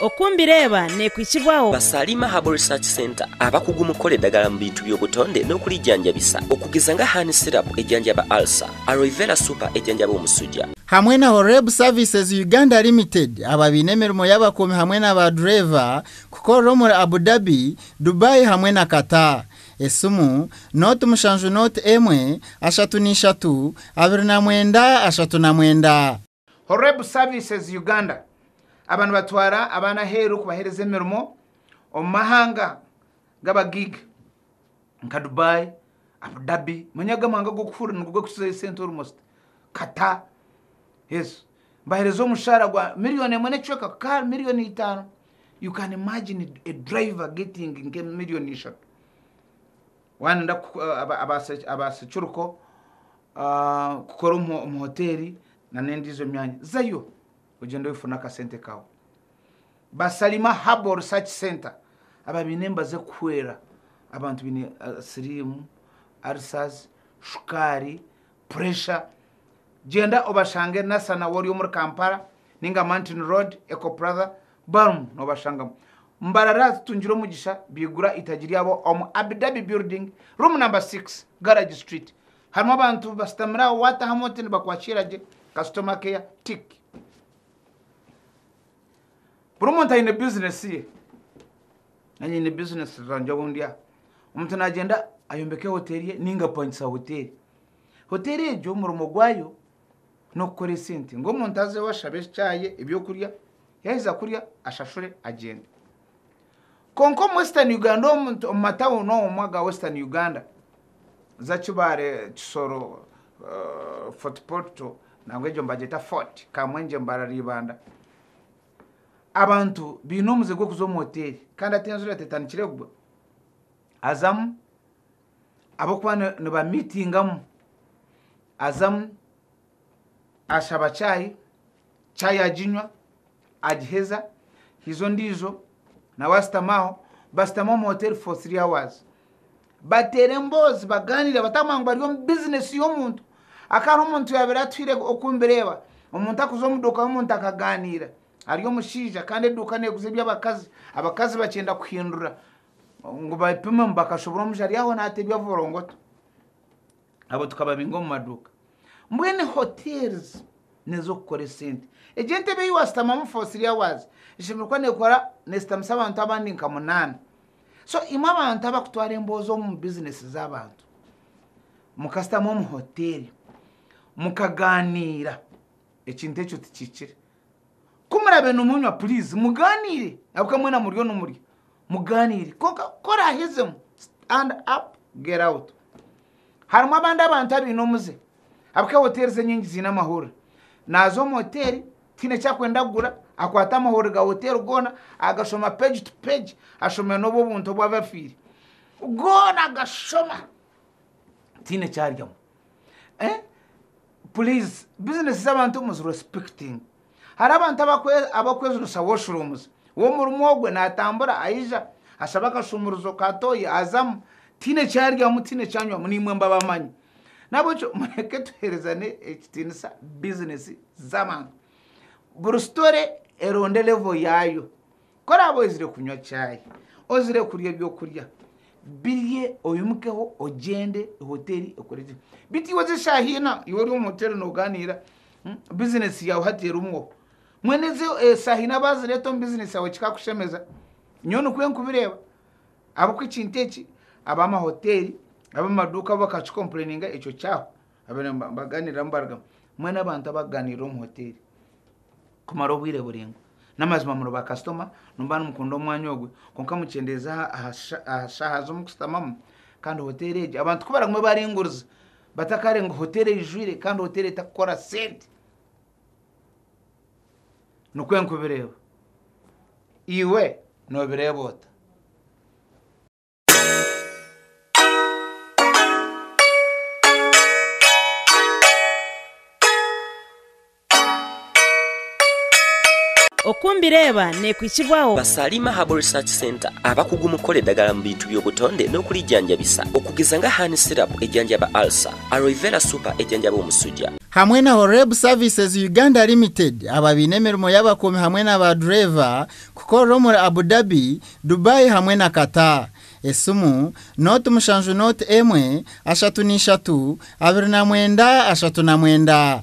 Oku mbireeba nekwitsibwaho. Basaliima Herbal Research Centre abakugu mu kukora edagala mu bintu by'obutonde n'okurijanjabisa okugeza nga Honey Syrup ejanjaba Ulcer, Aloe Vera Super ejanjaba omusuja, hamwe na Horeb Services Uganda Limited aba baine emirimo y'abakuumi hamwe na ba dureeva kukorera omuri Abu Dhabi, Dubai hamwe na Qatar. Esimu, Note mushanju Note emwe, ashatu na ishatu, abiri na mwenda, ashatu na mwenda. Horeb Services Uganda aba nibatwara abaana aheeru kubaheereza emirimo omu mahanga gaba gig nka Dubai, Abu Dhabi, manya aga mahanga g'okuhurira nigo gakusizayo sente almost, Qatar, yes. Nibaheereza omushaara gwa million emwe n'ekicweka kukahari million itaano. You can imagine a driver getting nke million ishatu. Waayenda abaasecuruko kukora omu hoteeri nana endiijo myanya, zayo ogyende oyefune akasente kaawe. Ba Salima Herbal Research Centre aba baine emibazi erikuhwera abantu baine siriimu, ulcers, shukaari, puresha. Gyenda obashange Nassana Wori omuri Kampala nainga Mountain Road, Eco Plaza, Barimu nobashangamu mbarara zitungire omugisha bigura itagi ryabo omu Abi Dhabi Building, Room number six, Garage Street. Harimu abantu basitamire aho watahamu oti nibakwakiira gye, customer care, tick. Buri muntu aine business ye. Nanye nyine business zangye ahu ndi aha. Omuntu nagyenda ayombeke hotel ye ninga apangisa hotel. Hotel egyo omurimo gwayo n'okukora esente ngu omuntu azeho ashabe ekyayi, ebyokurya, yaheza kurya ashashure agyende. Kwonka omu Western Uganda omu omu matawuni omu aga Western Uganda za Kibaale, Kisoro, eh, Fort Portal nangwa egyo nibagyeta Fort, Kamwenje, Mbarara, Ibanda, abantu baine omuze gw'okuza omu hoteeri kandi ati enjura tetandikire kugwa, azamu ab'okuba nibamiitingamu, azamu ashaba chai, chai aginywa, agiheza, haija ondiijo nawe ashutama aho, bashutama omu hoteeri for three hours. Bateera emboozi, bagaaniira, bataguma ngu bari omu bizinesi y'omuntu. Aka hariho omuntu yaabaire atuhaire oku mbireeba, omuntu akuza omu duuka y'omuntu akagaaniira, ari omushaija kandi eduuka neeguza eby'abakazi, abakazi bakyenda kuhindura. ngu bapime ngu bakashobora omusha ari aho naata ebyavolongoto abo tukababinga omu maduuka mbwene hotels nezokukora esente egyo entebe eyi wasitamamu for three hours eshemereire kuba nekora nesitamisa abantu abandi nka munaana so imwe abantu abakutwara emboozi omu business zabantu mukasitama omu hotel mukaganiira ekintu ekyo tikikire Ku murabe nimunywa puriizi mugaaniire ahabw'okuba mwena muriyo nimurya. Mugaaniire kwonka ku oraahezemu stand up get out. Harimu abandi abantu abaine omuze ahabw'okuba hoteeri z'enyingi ziine amahurire. Naaza omu hoteeri tihaine eki akwenda kugura akwata amahurire ga hoteeri goona agashoma page to page ashome n'obw'obuntu obu abafiire. Goona agashoma tihaine eki aryamu. eh please business z'abantu muzi respecting hari abantu abakwejunisa washrooms w'omurimo ogwe natambura aija ashaba akashumurizo ka toyi azamu tiine ekyaryamu tiine ekyanywamu nimwe mbabamanyi nabwekyo mureke tuherezane ekitinisa business z'abantu buri story eronde level yaayo Ku oraabe ozire kunywa chai, ozire kurya eby'okurya, birye oyimukeho ogyende hoteeri ekore gye. Beitu iwe oza eshaaha ina, iwe ori omu hoteeri noogaaniira hmm, bizineesi yaawe hati erimwo. Mbwenu ezi eshaaha ina baazireeta omu bizineesi yaawe kikakushemeza? Nyowe nikwo nkubireeba. Ahabw'okuba ekintu eki ab'amahoteeri, ab'amaduuka bo bakakikompuraininga ekyo kyahwa. Abaire nibaganiiriramu barugamba, Mwe n'abantu abakuganiirira omu hoteeri kumara obwire buraingwa. N'amazima muri baakasitoma, nooba nimukunda omwanya ogwe, kwonka mukyendeeza aha shaaha z'omukushutamamu. Kandi hoteeri egi, abantu ku baragume baringuriza, batakaare ngu hoteeri eijwire kandi hoteeri etarikukora sente. Nikwo ndikubireeba. Iwe noobireeba ota? Oku mbireeba nekwitsibwaho. Ba Salima Herbal Research Centre abakugu omu kukora edagala mu bintu by'obutonde n'okurijanjabisa okugeza nga Honey Syrup ejanjaba Ulcer, Aloe Vera Super ejanjaba omusuja, hamwe na Horeb Services Uganda Limited, aba baine emirimo y'abakuumi hamwe na ba dureeva, kukorera omuri Abu Dhabi, Dubai hamwe na Qatar. Esimu, nooti mushanju nooti emwe, ashatu na ishatu, abiri na mwenda, ashatu na mwenda.